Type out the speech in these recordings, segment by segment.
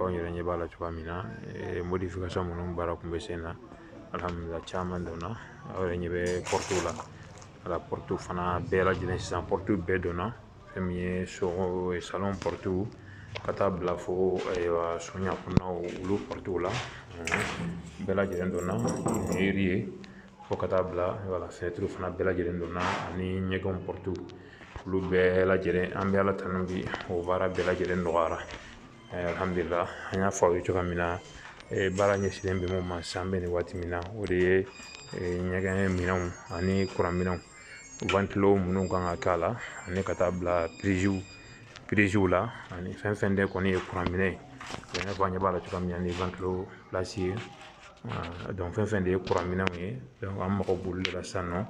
anw yɛrɛ ɲɛ b'a la cogoya min na eh, modification minnu baara kun bɛ sen na alhamdulila caman donna aw yɛrɛ ɲɛ bɛ portew la wala portew fana bɛɛ lajɛlen sisan portew bɛɛ donna fɛn min ye sogo eh, salon portew ka taa bila fo ayiwa eh, sonya kɔnɔnaw olu portew la bɛɛ lajɛlen donna eri ye fo ka taa bila wala finɛtiriw fana bɛɛ lajɛlen donna ani ɲɛgɛnw portew olu bɛɛ lajɛlen an bɛ ala tanu bi o baara bɛɛ lajɛlen nɔgɔyara alhamdulila an y'a fɔ aw ye cogoya min na baara ɲɛsinnen bɛ mun ma sisan an bɛ nin waati min na o de ye ɲɛgɛn minɛnw ani kuran minɛnw wantilo minnu kan ka k'a la ani ka taa bila piriziw piriziw la ani fɛn fɛn de kɔni ye kuran minɛ ye i n'a fɔ an ɲɛ b'a la cogoya min na ni wantilo pilasi ye donc fɛn fɛn de ye kuran minɛnw ye donc an mago b'olu de la sisan nɔ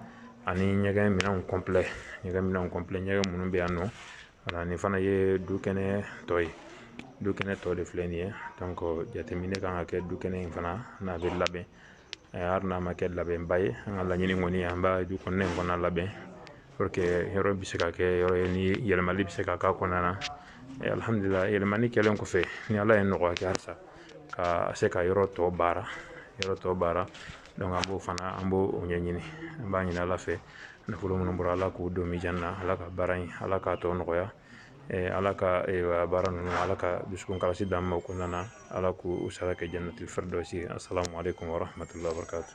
ani ɲɛgɛn minɛnw kɔnpilɛ ɲɛgɛn minɛnw kɔnpilɛ ɲɛgɛn minnu bɛ yan nɔ Wala nin fana ye du kɛnɛ tɔ ye du kɛnɛ tɔ de filɛ nin ye donc jateminɛ kan ka kɛ du kɛnɛ in fana n'a bɛ labɛn hali n'a ma kɛ labɛnba ye an ka laɲini kɔni an b'a du kɔnɔna in fana labɛn pour que yɔrɔ bɛ se ka kɛ yɔrɔ ye ni yɛlɛmali bɛ se ka k'a kɔnɔna na alihamudulila yɛlɛmani kɛlen kɔfɛ ni ala ye nɔgɔya kɛ halisa ka se ka yɔrɔ tɔ baara yɔrɔ tɔ baara donc an b'o fana an b'o o ɲɛɲini an b'a ɲini ala fɛ nafolo minnu bɔra ala k'o don mijan na ala ka baara in ala k'a tɔ nɔgɔya ala ka baara ninnu ala ka dusukun kalasi d'an ma o kɔnɔna na ala k'o sara kɛ jannatul firdawsi asalamu aleykum warahmatulahi wabarakatu